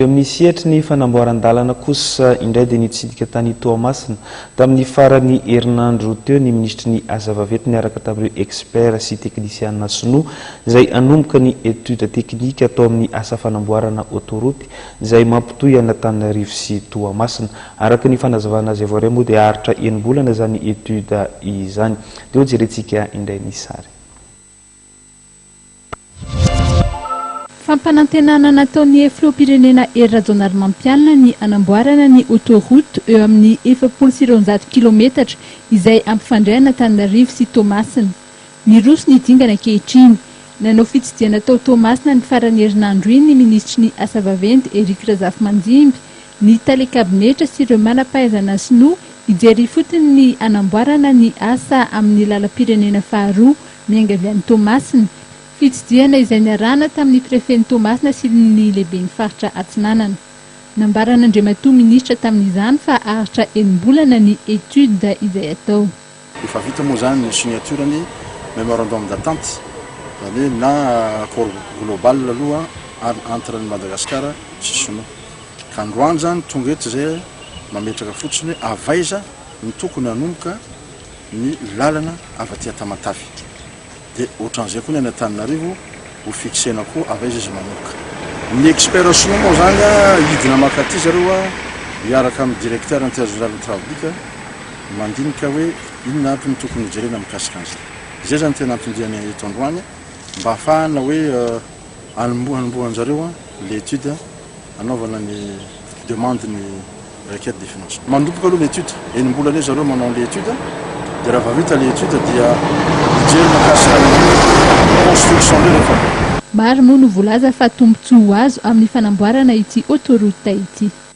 Eo amin'ny sehatry ny fanamboaran-dalana kosa indray dia nitsidika tany Toamasina tamin'ny faran'ny herinandro teo ny minisitry ny Asa vaventy niaraka tamin'ireo experts sy teknisiana sinoa izay hanomboka ny études techniques atao amin'ny asa fanamboarana autoroute izay mampitohy an'Antananarivo sy Toamasina. Araka ny fanazavana azo avy aoriana moa dia haharitra enim-bolana izany études izany. Dia ho jerentsika indray ny sary. Fampanantenana nataon'ny filoham-pirenena Hery Rajaonarimampianina ny hanamboarana ny autoroute eo amin'ny efapolo sy roanjato kilometatra izay hampifandray an'Antananarivo sy Toamasina. Miroso ny dingana ankehitriny. Nanao fitsidihana tao Toamasina ny faran'ny herinandro iny ny minisitry ny Asa vaventy Eric Razafimanjimby ny tale kabinetra sy ireo manam-pahaizana sinoa hijery ifotony ny hanamboarana ny asa amin'ny lalam-pirenena faharoa miainga avy any Toamasina. Fitsidihana izay niarahana tamin'ny prefen'i Toamasina sy ny lehiben'ny faritra Atsinanana. Nambaran'Andriamatoa Minisitra tamin'izany fa haharitra enim-bolana ny étude izay atao. Efa vita moa izany ny signature ny memorandum d'entente, izany hoe na accord global aloha an entre an'i Madagasikara sy Sinoa. Ka androany izany tonga eto izay mametraka fotsiny hoe avaiza no tokony hanomboka ny lalana avy aty Tamatave. Dia otran'izay koa ny any Antananarivo ho fixena koa avy aiza izy manomboka. Ny experts sinoa moa zany a hidina mankaty zareo a hiaraka amin'ny directeur intergénéral ny Trawbit a mandinika hoe inona aby no tokony ho jerena mikasika an'izay. Izay zany tena anton-diany eto androany mba hahafahana hoe hanomboha hanomboha anjareo a le étude a. anaovana ny demande ny requête de financement. Mandomboka aloha le étude, enim-bola anie zareo manao an'le étude, dia raha vao vita le étude dia mijery mikasika ny construction ndray rehefa. Maro moa no volaza fa tombontsoa ho azo amin'ny fanamboarana ity autoroute ity.